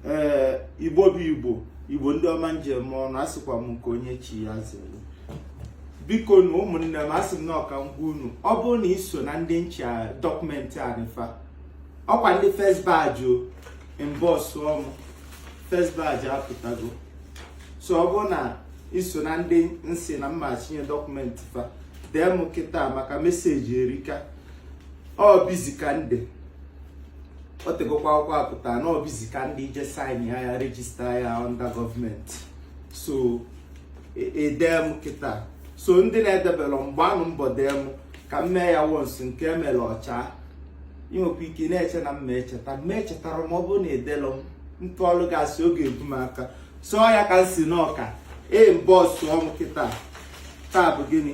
ee igbo bụ igbo igbo ndị ọma m ji eme ọnụ asịkwa m nke onye chi ya zelu bikonụ ụmụnne m asị m na ọ ka m gwa unu ọ bụrụ na i so na ndị na-eche dọkụmentị anị fa ọkwa ndị first batch o mbọsụ ọmụ first batch apụtago so ọ bụrụ na i so na ndị m sị na m ma-echinye dọkụmentị fa dee m kịta maka meseji erika ọ bụzi ka ndị o tegokwa akwụkwọ apụta na ọ bụzi ka ndị ije saịn ya rejista ya ọnda gọọmenti so i dee m kịta so ndị na-edebelọ m gbaanụ mbọ dee m ka m mee ya wons nke emere ọcha i nwekwa ike na-eche na m ma-echeta mma echetara m ọ bụrụ na i delọ m nke ọlụ gasị oge ebu m aka so ọ ya ka m sị na ọ ka ee mbọsụ ọm kịta taa bụ gịnị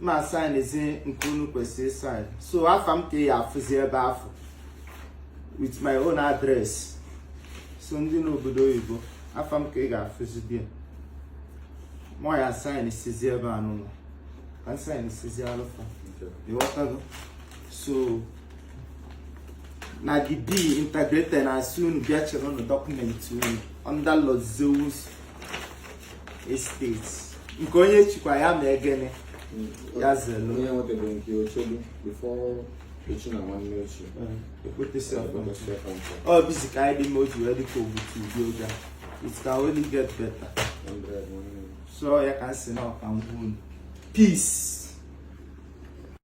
m ma-asaịnzi nke unu kwesịrị saịn so afa m ka ị ya-afụzi ebe afụ with my own address so ndị n'obodo oyibo afa m ka ị ga-afụzi ebe a mụwa ya-asaịnsizi ebe a n'ụlọ ka m saịn sizi alụfa ị ghọtago so na the b integrated na asị unu bịa chịrịnụ dọkụmentị unu under Lord Zeus estate nke onye chikwa ya ma egene ya zelu onye nwetara nke o chilu before echi na nwanne echi ọ bụzi ka anyị dị mma o ji wee dịka ogbutu ụdị oge a it can only get better so ya ka m sị na ọ ka m gwa unu peace